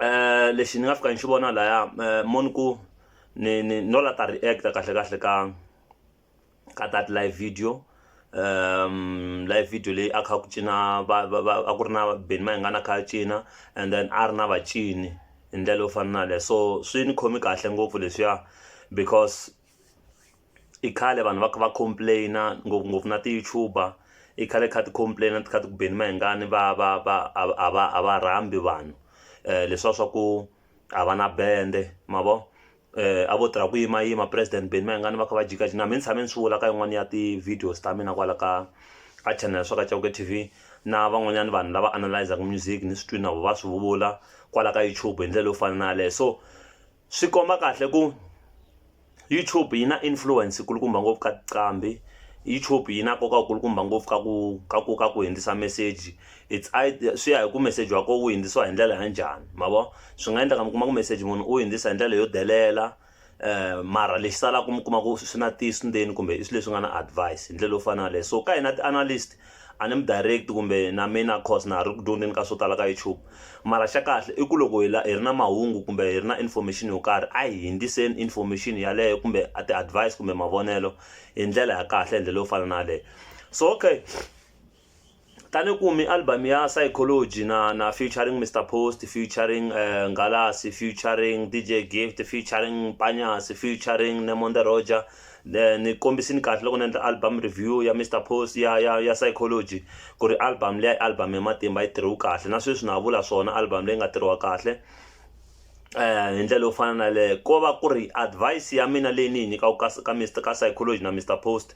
eh lexi ni nga fika ni xi vona laya eh, moni ku ni ni no la ta react kahle kahle ka ka that live video um live video leyi a kha ku cina a ku ri na beni ma hi nga na kha cina and then a ri na vacini hi ndlela yo fana na leyo so swi ni khomi kahle ngopfu leswiya because i khale vanhu va kha va complain-a ngopfungopfu na ti-YouTuber i khale kha ti complain-a ti kha ti ku beni mahengani va va va a a va a va rhambi vanhu leswiya swa ku a va na bende ma vo a vo tirha ku yimayima president beni mayengani va kha va jikajika na mehe ni tshame ni swi vula ka yin'wani ya ti-videos ta mina kwala ka ka channel swa ka Chauke T_V na van'wanyana vanhu lava analyse-aka music ni swi twini na vona va swi vula kwala ka YouTube hi ndlela yo fana na yaleyo so. Swi komba kahle ku YouTube yi na influence yi kulukumba ngopfu ka tinqambi YouTube yi na nkoka wu kulukumba ngopfu ka ku ka ku ka ku hundzisa meseji it's either swi ya hi ku meseji wa kona wu hundzisiwa hi ndlela ya njhani ma vo swi nga endleka mi kuma ku meseji munhu u hundzisa hi ndlela yo delela mara lexi salaka mi kuma ku swi na ntiyiso ndzeni kumbe i swilo leswi nga na advise hi ndlela yo fana na yaleyo so ka hina ti-analyst. A ni mi direct kumbe na mina coz na ha ri ku dyondzeni ka swo tala ka YouTube mara xa kahle i ku loko hi la hi ri na mahungu kumbe hi ri na information yo karhi a hi hindziseni information yaleyo kumbe a ti advise kumbe mavonelo hi ndlela ya kahle hi ndlela yo fana na yaleyo so okay tani ku mi album ya psychology na na featuring Mister Post featuring Ngalasi featuring DJ Gift featuring Panyasi featuring Nemonde Roger then ni kombisini kahle loko ni endla album review ya Mister Post ya ya ya Psychology ku ri album leyi i album ya matimba yi tirhiwe kahle na sweswi na ha vula swona album leyi nga tirhiwa kahle eh hi ndlela yo fana na le ko va ku ri advice ya mina leyi ni yi nyikaka ka ka Mister ka Psychology na Mister Post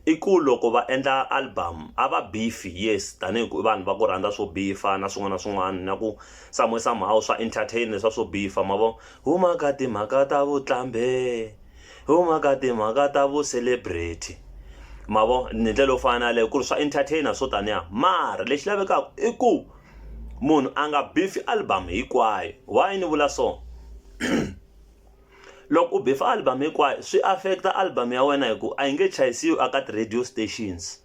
i ku loko va endla album a va beefy yes tanihi ku i vanhu va ku rhandza swo bifa na swin'wana na swin'wana na ku samue somehow swa entertain leswa swo bifa ma vo huma ka timhaka ta vutlambe hi wo mhaka timhaka ta vu celebrity ma vo ni ndlela yo fana na leyo ku ri swa entertainer swo taniya mara lexi lavekaka i ku munhu a nga bifi album hinkwayo why ni vula so loko u beef album hinkwayo swi affect album ya wena hi ku a yi nge chayisiwa eka ti-radio stations.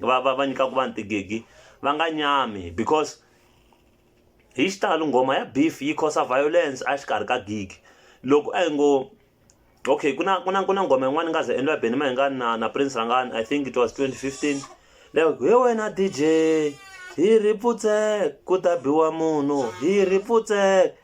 va va va nyikaka vanhu tigigi va nga nyami because hi xitalo nghoma ya beef yi cause violence a xikarhi ka gigi loko a yi ngo okay ku na ku na ku na nghoma yin'wana yi nga ze endliwa hi Benny Mayengani na na Prince Rhangani I think it was 2015 leyo hi wena DJ hi ri putsek ku ta biwa munhu hi ri putsek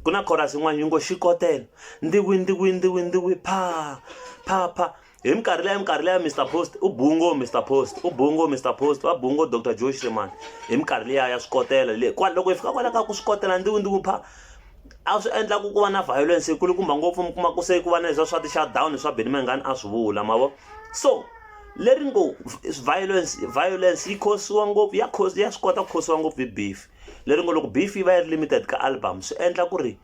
ku na chorus yin'wana yi ngo xikotela ndiwi ndiwi ndiwi ndiwi pha pha pha hi minkarhi leya minkarhi leya mr post u bungo mr post u bungo mr post va bungo dr joe shreman hi minkarhi leya ya swikotela le kwala loko hi fika kwala ka ku swikotela ndzi ndzi pha a swi endla ku ku va na violence yi kulukumba ngopfu mi kuma ku se ku va na leswa swa ti-shutdown swa benimangani a swi vula ma vo so leri ngo violence violence yi khosiwa ngopfu ya khosi ya swi kota ku khosiwa ngopfu hi beef leri ngo loko beef yi va yi ri limited ka album swi endla ku ri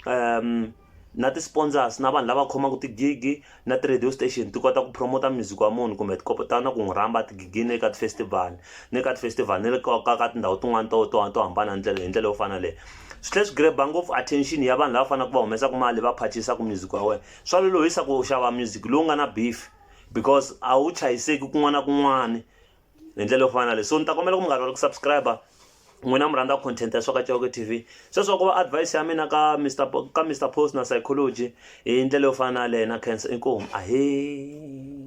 um na ti-sponsors na vanhu lava khomaka ti-gig-i na ti-radio station ti kota ku promote-a music wa munhu kumbe ti kota na ku n'wi rhamba tigigini le ka ti-festival ni le ka ti-festival ni le ka ka ka tindhawu tin'wani to to to hambana hi ndlela hi ndlela yo fana na yaleyo swi tlhela swi grab-a ngopfu attention ya vanhu lava faneleke va humesaka mali va phachisaka music wa wena swa lolohisa ku xava music lowu nga na beef because a wu chayiseki kun'wana na kun'wana. hi ndlela yo fana na leyi so ni ta kombela ku munghana wa ku subscribe n'wina mi rhandza content ya swaka cewake t v sweswo ku va advice ya mina ka mr ka mr post na psychology hi ndlela yo fana na leyi na cancer inkomu ahee